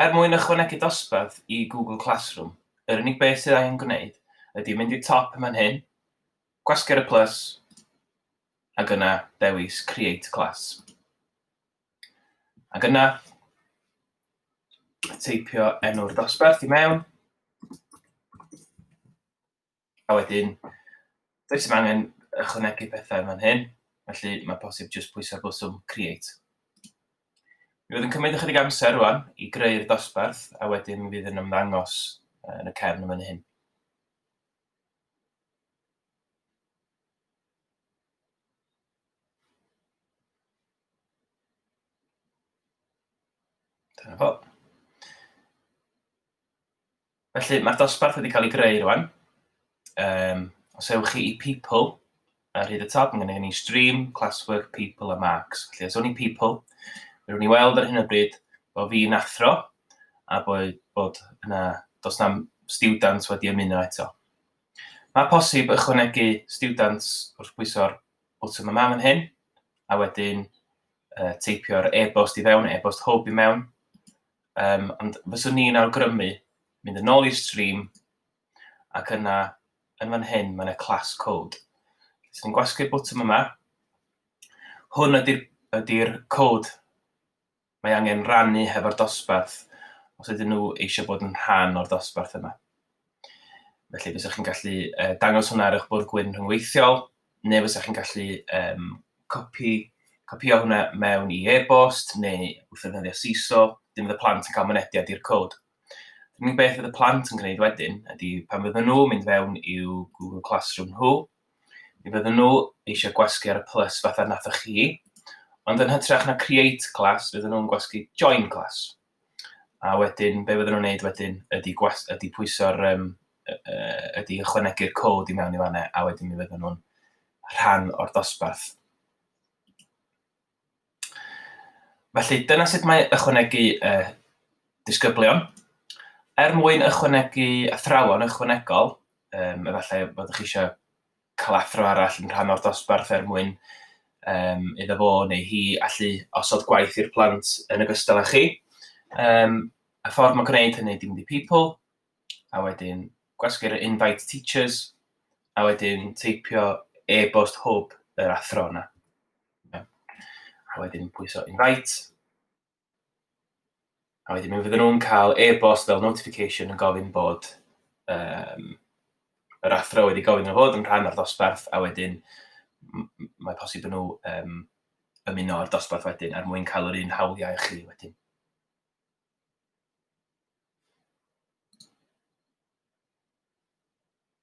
Er mwyn ychwanegu dosbarth i Google Classroom, yr unig beth sydd angen gwneud ydy mynd i'r top yn fan hyn, gwasgu'r y plus, ac yna dewis Create Class. Ac yna, teipio enw'r dosbarth i mewn, A wedyn, does dim angen ychwanegu pethau yn fan hyn, felly mae posib jyst pwyso'r bwtwm Create. Mi fydd yn cymryd ychydig amser rwan i greu'r dosbarth, a wedyn mi fydd yn ymddangos yn y cefn yn fan hyn. Dyna fo. Felly, mae'r dosbarth wedi cael ei greu rwan. Um, os ewch chi i people, ar hyd y top, mae gennym ni stream, classwork, people a marks. Felly, os o'n i people, fe rwy'n i weld ar hyn o bryd bod fi'n athro a bod, bod yna, dos na students wedi ymuno eto. Mae posib ychwanegu students wrth bwyso'r botwm yma fan hyn, a wedyn uh, teipio'r e-bost i fewn, e-bost hwb i mewn, Um, ond fyswn ni'n awgrymu mynd yn ôl i'r stream ac yna yn fan hyn mae yna class code. Os ni'n gwasgu'r botwm yma, hwn ydy'r ydy cod mae angen rannu hefo'r dosbarth os ydyn nhw eisiau bod yn rhan o'r dosbarth yma. Felly fysa chi'n gallu yy dangos hwnna ar eich bwrdd gwyn rhyngweithiol, neu fysa chi'n gallu um, copi, copio hwnna mewn i e-bost neu wrth ddefnyddio CISO, dim fydd y plant yn cael mynediad i'r cod. Yr unig beth fydd y plant yn gwneud wedyn ydy pan fydden nhw mynd fewn i'w Google Classroom nhw, mi fydden nhw eisiau gwasgu ar y plus fatha nathoch chi, ond yn hytrach na create class fydden nhw'n gwasgu join class. a wedyn be fydden nhw'n wneud wedyn ydy gwas- ydy pwyso'r yym yy yy ydy ychwanegu'r cod i mewn i fan'na a wedyn mi fydden nhw'n rhan o'r dosbarth. Felly dyna sut mae ychwanegu uh, disgyblion. Er mwyn ychwanegu athrawon ychwanegol, um, efallai bod chi eisiau cael athro arall yn rhan o'r dosbarth er mwyn um, iddo fo neu hi allu osod gwaith i'r plant yn ogystal â chi. Um, y ffordd mae'n gwneud hynny dim di people, a wedyn gwasgu'r invite teachers, a wedyn teipio e-bost hwb yr athro yna. A wedyn pwyso invite, A wedyn mi fydden nhw'n cael e-bost fel notification yn gofyn bod um, yr athro wedi gofyn nhw fod yn rhan o'r dosbarth a wedyn mae posib nhw um, ymuno â'r dosbarth wedyn er mwyn cael yr un hawliau chi wedyn.